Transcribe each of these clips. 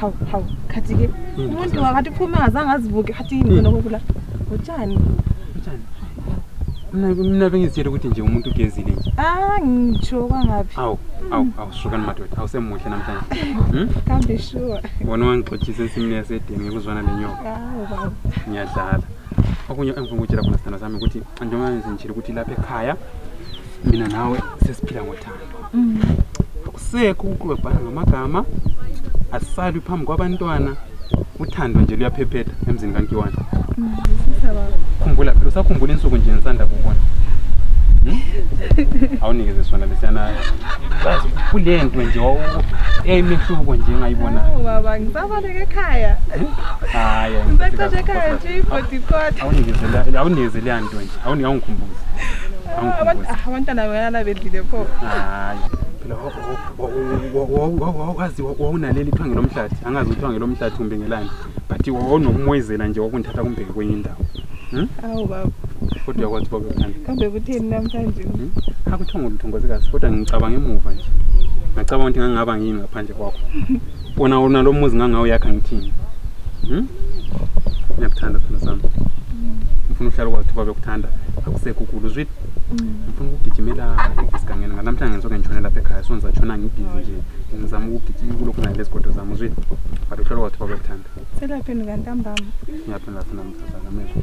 hawu hawu khathi-ke Hmm. umuntu wakathi uphume ngazange azibuke khathi yini khona kokula utshani Utshani. Mina mina bengizitshela ukuthi nje umuntu ugezile nje. ah ngitsho kwangaphi Awu, awu, awu shukani madoda. Awusemuhle namhlanje. Hmm? kambe sure Wona wangixothisa ensimini yasedeni ngekuzwana lenyoka. hawu baba Ngiyadlala. Okunye engifuna ukutshela khona sithanda sami ukuthi njengoba ngizitshela ukuthi lapha ekhaya mina nawe sesiphila ngothando. mm. akusekho ukuklwebhana ngamagama asalwi phambi kwabantwana uthando nje luyaphephetha emzini kankiwana mm, khumbula phela usakhumbula insuku nje nisanda kubona hmm? awunikeze sona lesiyana kule nto nje eyayimehluko nje engayibonayo Aber der Gekaya. Ah, ja. Mbetsa Gekaya nje ibody kodwa. Awunikezelani, awunikezelani nto nje. Awuni awungikhumbuzi. Abantu abantwana bayana bedlile pho. Hayi. Phela wazi wawunaleli thwange lomhlathi. Angazi uthwange lomhlathi kumbe ngelani. But wawunokumwezela nje wakunthatha kumbheke kwenye indawo. Hmm? Awu baba. Kodwa uyakwazi baba uthanda. Kambe kutheni namhlanje? Hmm? Akuthongo lutho ngozikazi kodwa ngicabanga emuva nje. Ngacabanga ukuthi ngangaba ngini ngaphandle kwakho. wona wona lo muzi ngangawuyakha ngithini Hmm? ngiyakuthanda sithando sami ngifuna uhlala kwathi uba bekuthanda akusekho ukulu zwit ngifuna ukugijimela esigangeni nganamhlanje ngisoke ngitshone lapha ekhaya so ngizatshona ngibhizi nje ngizama ukugijima kulokhu nale zigodo zami uzwit but uhlala kwathi uba bekuthanda selaphi nikantambama ngiyaphi ngafuna mthazana mezwa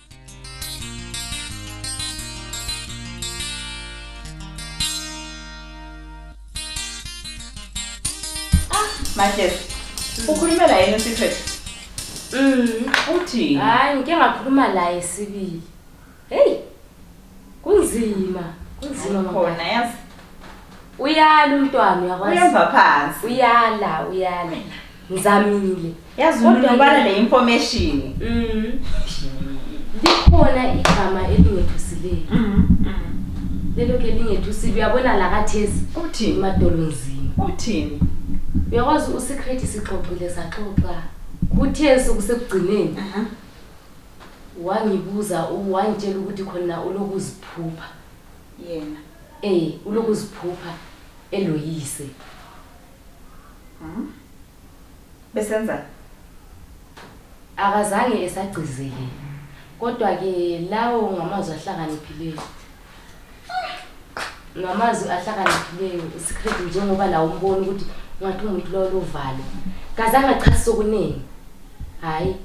Ah, Mahlezi, ukhulume la yini uSiphethu? Mm. Uthini? Hayi ngike ngakhuluma laye sibili. Hey. Kunzima, kunzima mama. Khona yazi. Uyala umntwana uyakwazi. Uyemva phansi. Uyala, uyala. Ngizamile. yazi Kodwa unobala ke- ne-information Mm. likhona igama elingethusileyo lelo ke lingethusile uyabona la kathesi uthini emadolonzini uthini uyakwazi usikrethi sixoxile saxoxa kuthe sokusekugcineni Aha. wangibuza u- wangitshela ukuthi khona ulokuziphupha yena um ulokuziphupha eloyise Mhm. Besenzani? Akazange esagcizeke. Kodwa ke lawo ngamazwi ahlakaniphileyo. Ngamazwi ahlakaniphileyo isikret njengoba lawo umbona ukuthi ngathi umuntu lowo lovalo. Kazange achasise okuningi. Hayi.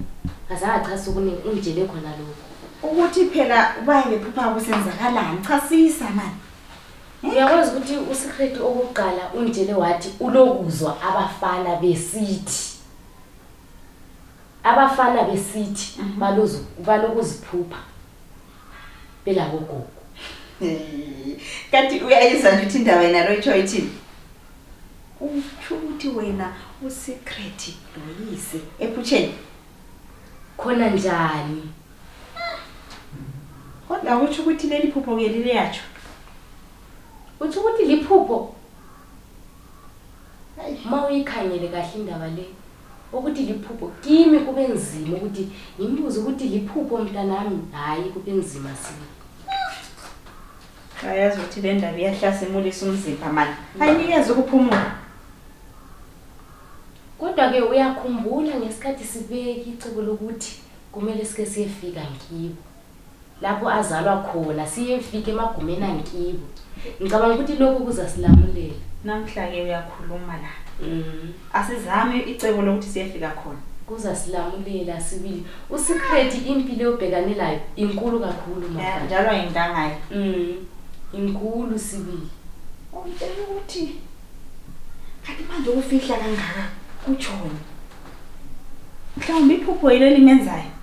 Kazange achasise okuningi ungitshele khona lokho. Ukuthi phela ubaye bephupha kusenzakalani? Chasisa manje. uyakwazi ukuthi usecret okokuqala unditshele wathi ulokuzwa abafana besithi abafana besithi mhm. balokuziphupha belakogogo kanti uyayizwa nje ukuthi indaba yena loyitsho ithini utsho ukuthi wena usecret loyise ephutsheni khona njani Kodwa kutsho ukuthi leli phupho ke lileyatsho. Utsho ukuthi liphupho. Ma uyikhangele kahle indaba le. Ukuthi liphupho kimi kube nzima ukuthi ngimbuze ukuthi liphupho mntanami hayi kube nzima sibili. Ayazi ukuthi le ndaba iyahlasimulisa umzimba mani. Ayinikeza ukuphumula. Kodwa ke uyakhumbula ngesikhathi sibeka icebo lokuthi Kumele sike siyefika ngibo lapho azalwa khona siyefika emagumeni angibo ngicabanga ukuthi lokhu kuzasilamulela namhla-ke uyakhuluma la mm. asizame icebo lokuthi siyefika khona kuzasilamulela sibili usecret impilo yobhekane layo inkulu kakhulu njalo ayintangayo mm. inkulu sibili utshela ukuthi kanti manje ukufihla kangaka kutshoni mhlawumbi iphupho yilo elimenzayo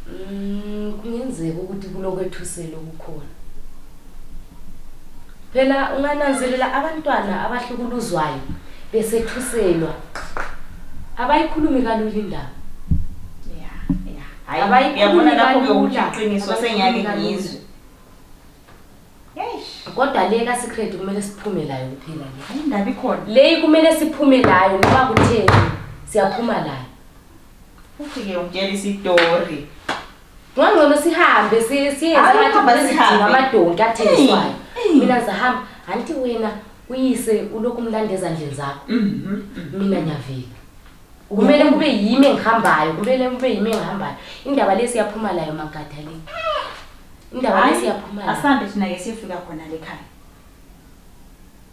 Mm, kungenzeka ukuthi kulokwethusela okukhona phela ungananzelela abantwana abahlukuluzwayo besethuselwa abayikhulumi kalula indaba ya ya Hayi, hayi uyabona uyabona lapho lapho ke ukuthi ukuthi iqiniso sengiyake ngizwe kodwa le kasikretu kumele siphume layo kuphela le leyi kumele siphume layo noba kutheni siyaphuma layo ufike utshela isitori ngangcono sihambe siyeamadonki athengiswayo mina zahamba anti wena uyise ulokhu umlanda ezandleni zakho mhm, mhm. mina ngiyavela kumele kube yimi engihambayo kumele kube yimi engihambayo indaba le siyaphuma layo magada le indaba le siyaphuma layo asambe thina ke siyofika khona le khaya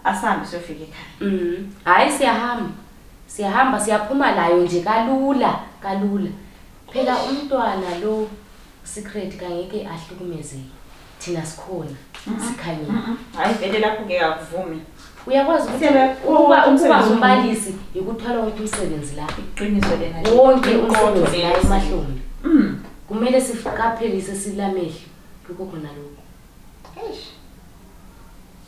asambe siyofika ekhaya mm hayi siyahamba siyahamba siyaphuma layo nje kalula kalula phela umntwana lo secret kangeke ahlukumezeke thina sikhona sikhanyile hayi vele lapho ke akuvumi uyakwazi ukuthi Sebe- ukuba ukuba umsebenzi ngumbalisi yikuthwala wonke umsebenzi la iqiniso lena nje. wonke Iqondo umsebenzi la leli. emahlombe Mm. kumele siqaphelise silamehlo lokho khona lokho Eish.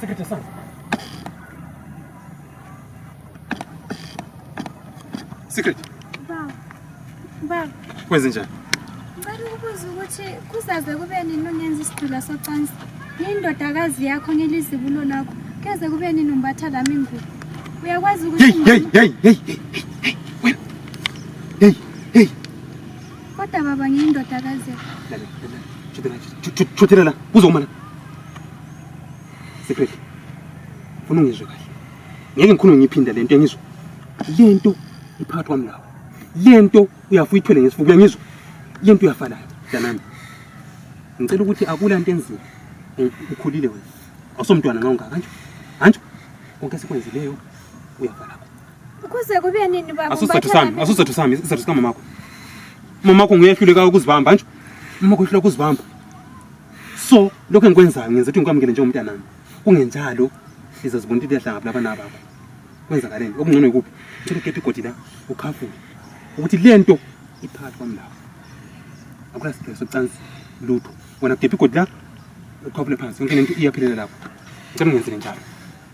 Sekete sana. Sekete. Ba. Ba. Kwenze njani? Ngicela ukubuza ukuthi kuzaze kube nini ungenza isidula socansi nendodakazi yakho ngelizibulo lakho keze kube nini umbatha lami ingubo uyakwazi ukuthi hey, hey, hey, hey, hey, hey. Kodwa baba ngiyindoda kaze. Chothela la, buza umana. Secret. Funa ungizwe kahle. Ngeke ngikhulume ngiphinda lento engizwa. Lento iphakathi kwami lawo. Lento uyafuya ithwele ngesifuba uyangizwa. Lento uyafala danami. Ngicela ukuthi akula into enzima. Ukhulile wena. Awusomntwana nxa ungaka kanje. Kanje konke esikwenzileyo uyafala. Ukuze kube nini baba? Asuse tusami, asuse tusami, isizathu sika mamakho. Mamakho nguye ehluleka ukuzibamba nje. Mamakho ehluleka ukuzibamba. So, lokho engikwenzayo ngenza ukuthi ngikwamukele njengomntanami. Kungenjalo, iza zibona ukuthi liyahlanga kulaba nabakho. Kwenzakaleni? Okungcono yikuphi? Ngicela ukephe igodi la, ukhafule. Ukuthi lento iphakathi kwami lapho. Akula sipheso cansi lutho. Wena kephe igodi la, ukhafule phansi. Yonke lento iyaphelela lapho. Ngicela ungenzele njalo.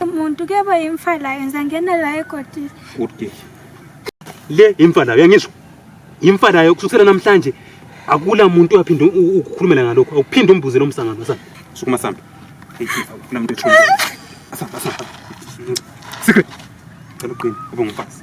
umuntu kuyaba yimfa layo ngizangena la egodini kude le yimfa layo yangizwa yimfa layo kusukela namhlanje akula muntu uyaphinde ukukhulumela ngalokho awuphinde umbuze lo msangano sa sukuma sambe ufuna muntu ethumbe asamba asamba secret cela uqine ube ngumfazi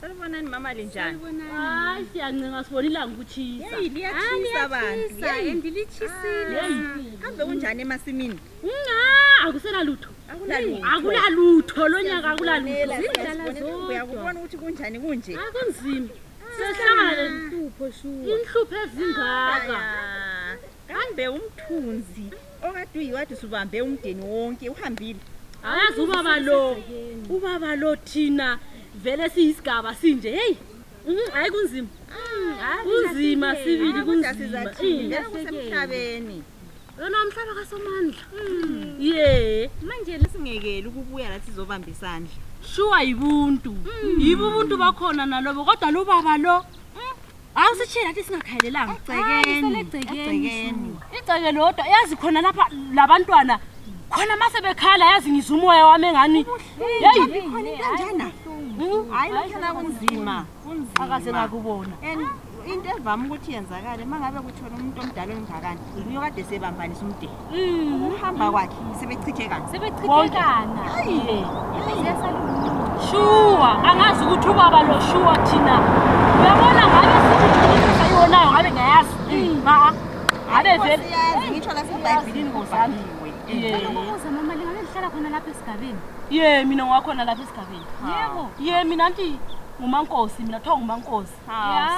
Sanibonani mama linjani? Hayi siyancenga sibona ilanga ukutshisa. Hey liyatshisa bantu. Hey ndilitshisile. Kambe kunjani emasimini? Nga akusela lutho. Akulalutho. Akulalutho lonyaka akulalutho. Zindlala zodwa. Uyakubona ukuthi kunjani kunje. Akunzima. Sehlangana lenhlupho shuwa. Inhlupho ezingaka. kambe umthunzi okade uyiwathi subambe umdeni wonke uhambile hayazi ubaba lo ubaba lo thina vele siyisigaba sinje heyi mm, hayi kunzima mm, kunzima sibili kunzimaemhlabeni lona umhlaba kasomandla mm. ye manje lesingekeli ukubuya lathi sizobamba isandla shuwa yibuntu yibo ubuntu bakhona nalobo kodwa lubaba lo Awu sitshela ukuthi singakhalelanga. Egcekeni. Egcekeni. Igceke lodwa yazi khona lapha labantwana khona mase bekhala yazi ngizwa umoya wami engani. Hey. Kanjana. Hmm? Hayi lokho kunzima. Kunzima. Akaze ngakubona. And into evama ukuthi yenzakale mangabe kuthona umuntu omdala ongakani. Uyokade sebambanisa umdeni. Mm. uhamba kwakhe sebechithekana sebechithekana shuwa angazi ukuthi ubaba lo shuwa thina uyabona ngabe siiisa iwonayo ngabe ngayazi mm. maa ngabe veleyazi ngitsho lasebhayibhilini ngozamiwe ye mina ngiwakhona lapha esigabeni yebo ye mina nti ngumankosi mina kuthiwa ngumankosi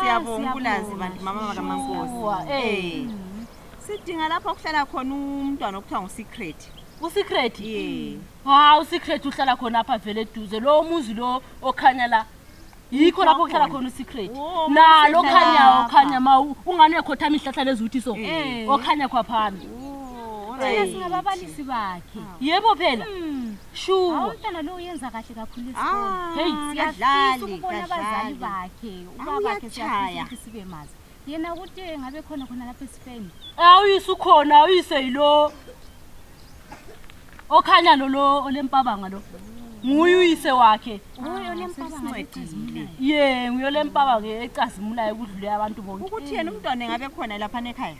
siyabonga ukulazi bantu mama bakamankosi sidinga lapho okuhlala khona umntwana okuthiwa ngusecret usecret ye hawu usecret uhlala khona apha vele eduze lowo muzi lo okhanya la yikho lapho kuhlala Wakhona. khona usecret Wo, nalo muzi okhanya lapha. okhanya ma u- ungani uyakhothama ihlahla lezuthi so Eh. okhanya khwaphami Oh, thina alright. singababalisi bakhe yebo phela Hmm, shuwa hawu umntana lo uyenza kahle kakhulu esikole Ah, Hey, siyafisa kadlali, ukubona abazali kadlali. bakhe ubabakhe siyafisa Awuyatshaya. ukuthi sibe mazi yena ukuthi ngabe khona khona lapha eSpain awuyise ukhona awuyise yilo okhanya lo lo olempabanga lo nguye uyise wakhe nguye olempabanga ecazimulayo ye nguye olempabanga ecazimulayo kudlule abantu bonke ukuthi yena umntwana ngabe khona lapha nekhaya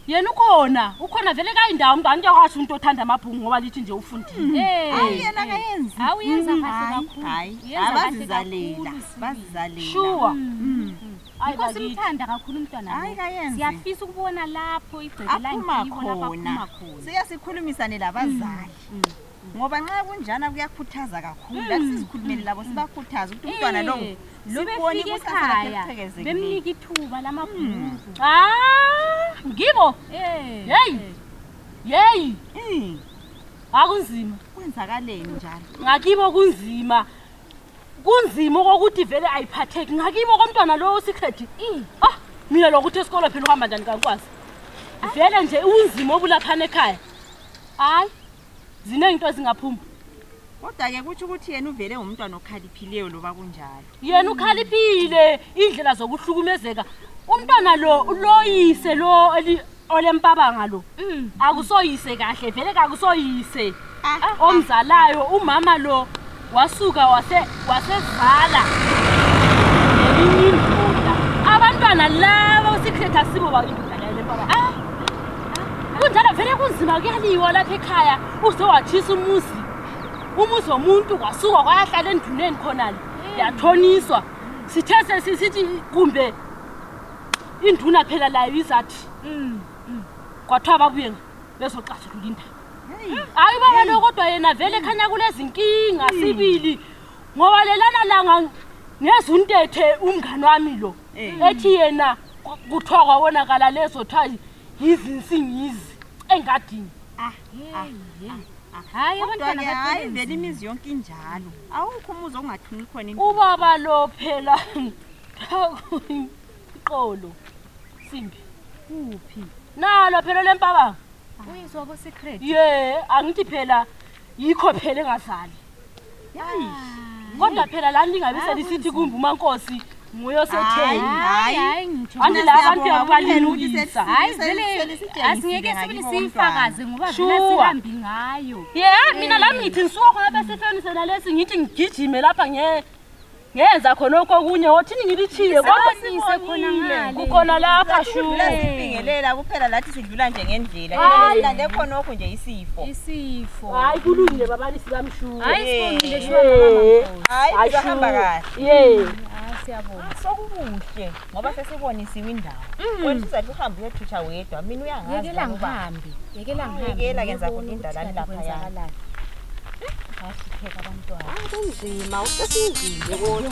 yena ukhona ukhona vele kayindawo mntu andiyakwasho umntu othanda amabhungu ngoba lithi nje ufundileyena hmm. kayenziawuyenza hmm. kahle kakhulu bazizalela bazizalela sure hmm. Hayi Yikho bakithi. simthanda kakhulu umntwana Hayi, lo. kayenzi. Siyafisa ukubona lapho igceke aphuma langikibo lapho aphuma khona khona. siya sikhulumisane labazali Mm. ngoba nxa kunjana kuyakhuthaza kakhulu Mm. lathi sizikhulumele labo sibakhuthaze ukuthi umntwana lo Eh, lubone sebefika ikusasa lakhe ekhaya, eliqhekezekile bemnika ithuba lamabhuku. Ah, ngibo Eh, Hey! eh. yeyi Mm, akunzima kwenzakaleni njalo ngakibo kunzima kunzima okokuthi vele ayiphatheki ngakimo komntwana lowo usikredi mm. ah mina lokuthi esikolo phela uhamba njani kankwazi vele nje unzima obulaphana ekhaya hayi ziningi into ezingaphuma kodwa-ke kutsho ukuthi yena uvele ngumntwana okhaliphileyo loba kunjalo yena ukhaliphile indlela zokuhlukumezeka umntwana lo uloyise lo olempabanga lo mm. akusoyise kahle vele kakusoyise ah, ah, ah. omzalayo umama lo wasuka wasezala eminye indoda abantwana laba usikhetha sibo bakindodaaa kunjalo vele kunzima kuyaliwa lapha ekhaya uze wathisa umuzi umuzi womuntu kwasuka kwayahlala enduneni khonale mm. yathoniswa sithe sesithi kumbe induna phela layo izathi mm, mm. kwathiwa ababuye bezoxazulula indaba hayi baba lo kodwa yena vele khanya kulezinkinga sibili ngoba lelana langa ngezuntethe umngane wami lo ethi yena kuthiwa kwawonakala lezo kuthiwa yizinsingizi engadini ah, ah, ah. hayi abantwana hayi vele imizi yonke injalo awukho umuzi ongathuni khona ubaba lo phela Qolo. Simbi. Kuphi? Nalo phela lempabanga. Uyizwa bo secret. Ye, angithi phela yikho phela engazali. Hayi. Kodwa phela la ningabe selisithi kumbe umankosi nguyo setheni. Hayi, hayi ngitsho. Ande la abantu yabalilungisa. Hayi vele asingeke sibili siyifakaze ngoba Sure. vele sihambi ngayo. Yeah, mina lami ngithi nsuka khona besifeni sena lesi ngithi ngigijime lapha nge ngenza khonokho okunye wothini ngilitshiye kukhona lapha shuingelela kuphela lathi sidlula nje ngendlela lande khonokho nje isifo isifo hayi kulungile babalisi bamshuhayi sahamba kahle siyabonga sokukuhle ngoba sesibonisiwe indawo mm. wena uzathi uhambe uyothutsha wedwa mina uyangaziyekela ngihambe yekela ngihambeyekela kenza kuthi indalani lapha yana kunzima usesinzile kodwa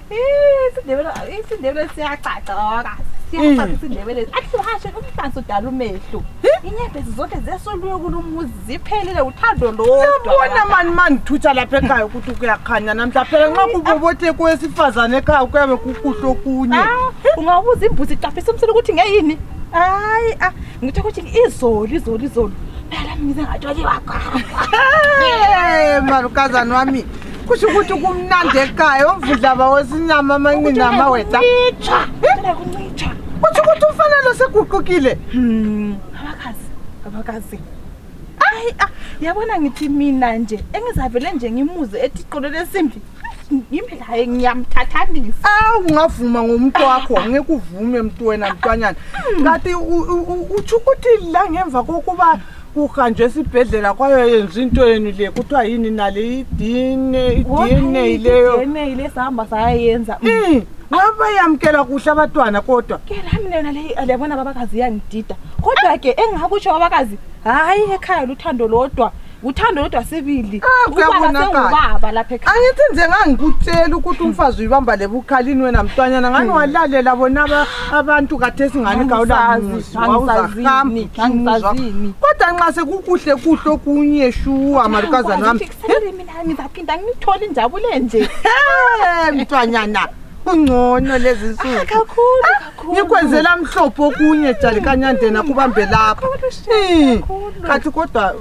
isiNdebele isiNdebele siyagcagcoka siyagcagcoka Mm. isiNdebele athi uhashe umfansi udala umehlo inyembezi zonke zesoluye kulumuzi ziphelile uthando Yabona mani mandithutsha lapha ekhaya ukuthi kuyakhanya namhla phela nxa kubobothe kowesifazane ekhaya kuyabe kukuhle okunye ungabuza imbuzi iqaphisa umsini ukuthi ngeyini hayi a ngithe ukuthi izolo izolo izolo phela mina ngathi waliwagwa Eh, malukazana wami kusho ukuthi kumnandi ekhaya omvudlaba wesinyama amanqina amaweda kusho ukuthi umfana lo seguqukile hmm. abakazi abakazi ayi ah, yabona ngithi mina nje engizavele nje ngimuze ethi qolo lesimbi ngimlaye ngiyamthathanisa awu ngavuma ngomuntu wakho ngikuvume mntwena mntwanyana hmm. kanti utsho ukuthi la ngemva kokuba kuhanjwe esibhedlela kwayoyenza into yenu le kuthiwa yini nale idna ileyo le sihamba sayayenza mm. ngabayamkela kuhle abantwana kodwa ke lami lena le liyabona babakazi iyangidida kodwa ke engingakutsho babakazi hhayi ekhaya luthando lodwa uthando lodwa sibili ah, ubaba lapha ekhaya angithi nje ngangikutshela ukuthi umfazi uyibamba lebukhalini wena mntwanyana ngani hmm. walalela bona abantu kathesi ngani kawulamuzi wawuzahambhi kodwa nxa sekukuhle kuhle okunye shuwa malukazana wami ngizaphinda ngithole injabule nje mntwanyana kungcono lezi nsuku ngikwenzela mhlophe okunye jalikanyandena kubambe lapha kathi kodwa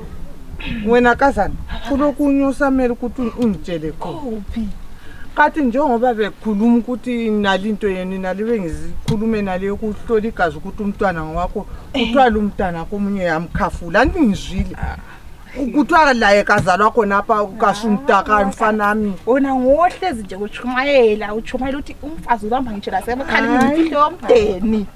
wena kazana kulokunye osamele ukuthi ungitshele khona kathi njengoba bekhuluma ukuthi nali into yenu nali bengizikhulume nali yokuhlola igazi ukuthi umntwana ngowakho kuthiwa lu mntana komunye yamkhafula andingizwile kuthiwa laye kazalwa khonapha kasumtaka mfanami wona ngohlezi nje kutshumayela utshumayela ukuthi umfazi ubamba ngitsho lasemkhalini ngimfihle womdeni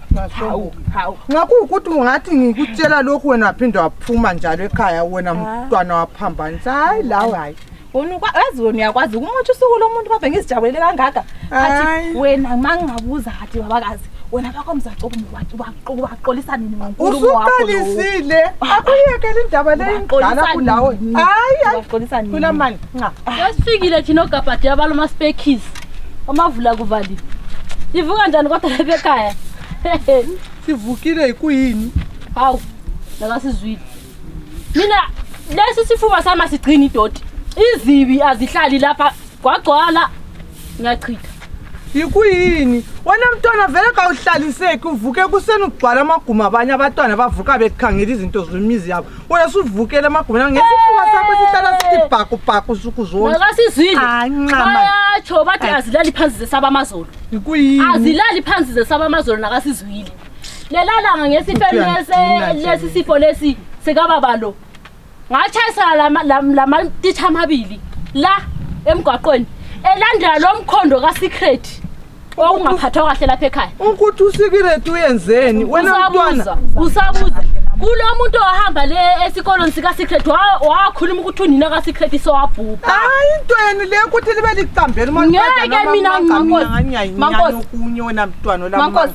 nxa kuwukuthi ungathi ngikutshela lokhu wena phinde waphuma njalo ekhaya wena mntwana waphambanisa hayi lawe hayi wena ukwa- yazi wena uyakwazi ukumotha usuku lomuntu kodwa ngizijabulele kangaka Hayi. athi wena ma ngingabuza hathi babakazi wena bakho mzacobo ubaxolisa nini ngonkulumo wakho lowo? usuqalisile akuyekela indaba leyo Ubaxolisa indala kulawe nini? hayi hayi Ubaxolisa nini? kulamani nca yasifikile thina ogabhadi abala umaspekis omavula kuvaliwe ivuka njani kodwa lebekhaya sivukile yikuyini hawu nakasizwile mina lesi sifuba sami asigcini idoti izibi azihlali lapha gwagcwala ngiyachitha yikuyini wena mntwana vele kawuhlaliseki uvuke kuseni ugcwala amaguma abanye abatwana bavuka bekhangela izinto zemizi yabo wena suvukele amaguma ngesifuba sakho sihlala sithi bhakubhaku suku zonke nakasizwile Anqama. bayatsho bathi azilali phansi zesaba amazolo yikuyini azilali phansi zesaba amazolo nakasizwile lelalanga ngesifo lesi sifo lesi sikababa lo ngatshayisana lamatitsha amabili la emgwaqweni elandela lo mkhondo kasecret okungaphathwa kahle lapha ekhaya ukuthi usikireti uyenzeni wena mntwana usabuza kulo muntu ohamba le esikolweni sikasecret wakhuluma ukuthi unina kasecret sowabhubha hayi into yenu le ukuthi libe licambela ngeke mina mankosi mankosi wena mntwana mankosi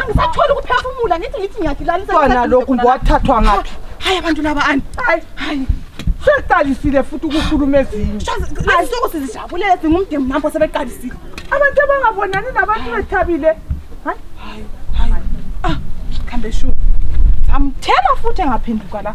angisatholi ukuphefumula ngithi ngithi ngiyagilalisa kwana lokhu ngowathathwa ngaphi hayi abantu laba ani hayi hayi seqalisile futhi ukukhuluma ezinye azisuku sizijabulele singumdemu nampo sebeqalisile abantu abangabonani nabantu bethabile hayi hayi hayi ah khambe shu amthela futhi engaphenduka la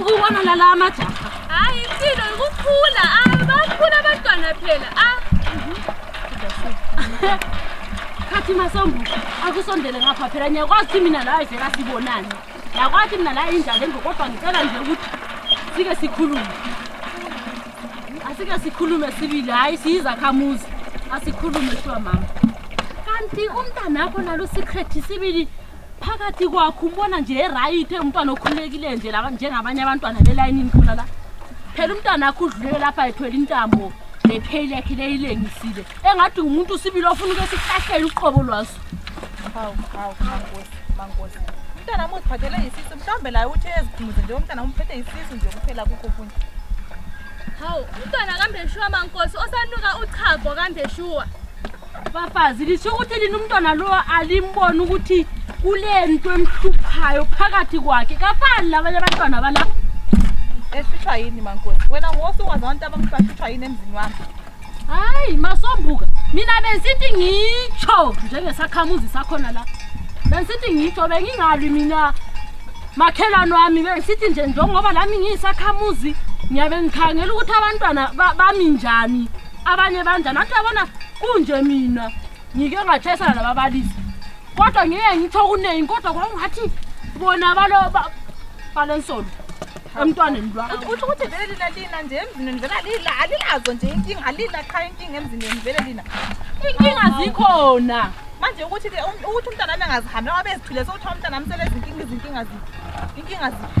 ukubona lala amajaha hayi impilo ikukhula ah, bakhula abantwana phela ah. khathi masombu akusondele ngapha phela ngiyakwazi ukuthi mina la ayivela sibonani yakwathi mina la injalo engo kodwa ngicela nje ukuthi sike sikhulume asike sikhulume sibili hhayi siyizakhamuzi asikhulume kuthiwa mama kanti umntanakho nalo secret sibili phakathi kwakho umbona nje erayithe umntwana okhululekile nje la njengabanye abantwana belayinini khona la phela umntwana akho udlulele lapha ethwele intambo nepheli yakhe leyilengisile engathi ngumuntu usibili ofuna ukuthi sihlahlele uqhobo lwaso hawu hawu mankosi mankosi umntana amuthi phathele yisisu mhlawumbe laye uthi eziphumuze nje umntana umphethe yisisu nje kuphela kukho okunye hawu umntwana kambe shuwa mankosi osanuka uchago kambe shuwa bafazi lisho ukuthi lina umntwana lowa alimbona ukuthi kule nto emhluphayo phakathi kwakhe kafani labanye abantwana balapha esihlwa yini mankosi wena ngosi ungazi abantu abamhlwahlutshwa yini emzini wami hayi masombuka mina bensithi ngitsho njengesakhamuzi sakhona la bensithi ngitsho bengingalwi mina makhelwane wami bensithi nje njengoba lami ngiyisakhamuzi ngiyabe ngikhangela ukuthi abantwana bami njani abanye banjani athi yabona kunje mina ngike ngatshayisana nababalisi kodwa ngike ngitho kuningi kodwa kwakungathi bona balo balensolo emntwaneni lwauthi ukuthi vele lina lina nje emzini wenu vele lila alilazo nje inkinga alila qha inkinga emzini wenu vele lina inkinga zikhona manje ukuthi ke um, ukuthi umntana wami angazihambi wabezithule sokuthiwa umntana wami selezinkinga izinkinga ziphi inkinga ziphi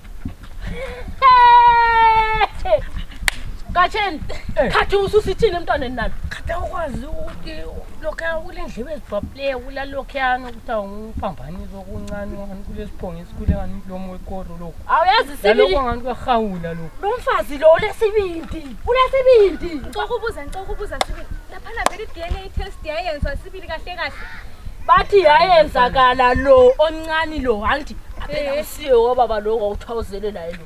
Katheni, eh. khathi ususithini emntwaneni nami. Khathi awukwazi ukuthi lokho kule ndlebe ezibhabhleyo kula lokhuyana ukuthi awungiphambanisi okuncane ngani kulesiphongo esikhule ngani umlomo wekoro lokho. Awuyazi sibili. Lokho ngani kuyahawula lokho. Lo mfazi lo ulesibindi. Ulesibindi. Ngicoko ubuza, ngicoko ubuza sibili. Laphana vele i-DNA test yayenziwa sibili kahle kahle. Bathi yayenzakala lo omncane lo hanti. akusiyo wababa lo kwakuthiwa uzele naye lo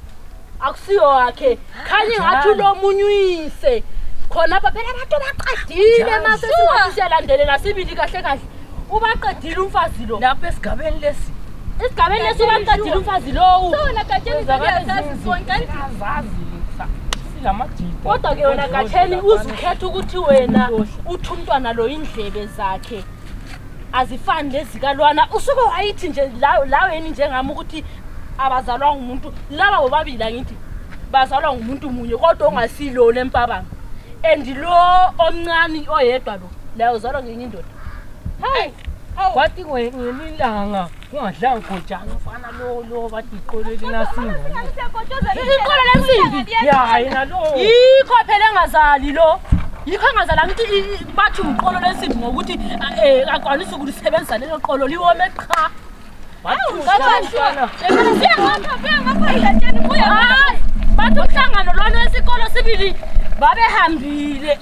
akusiyo wakhe khanye ngathi ulomunye uyise khonapha phela abantu baqedile masesingathi siyalandelela sibili kahle kahle ubaqedile umfazi lo lapho esigabeni lesi esigabeni lesi ubaqedile umfazi lowu kodwa ke wena katheni uzukhetha ukuthi wena uthi umntwana lo indlebe zakhe azifani lezikalwana usuke wayithi nje laweni njengami ukuthi abazalwa ngumuntu laba bobabili angithi bazalwa ngumuntu munye kodwa ongasilona empabanga and lo omncane oyedwa lo laye uzalwa ngenye indoda hayi kwathi ngelilanga Ungadlanga gojana mfana lo lo bathi iqolo elinasimbi. Iqolo lensimbi. Ya yena lo. Yikho phela engazali lo. Yikho engazali angithi bathi umqolo lensimbi ngokuthi eh akwanisa ukulisebenzisa lelo qolo liwome qha. Bathi umfana. Siya ngapha, siya ngapha ilatsheni kuya. Bathi umhlangano lona esikolo sibili babehambile.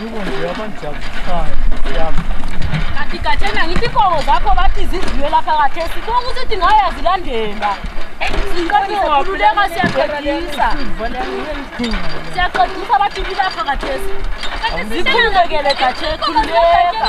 Yiko nje abantu jabusayo. Yami. Kanti gatshena ngithi inkomo zakho bathi zidliwe lapha kathesi konke usithi ngaya zilandela sikhululeka siyaqedisa siyaqedisa bathi kulapha kathesi kanti sikhululekele gatsheni khululeka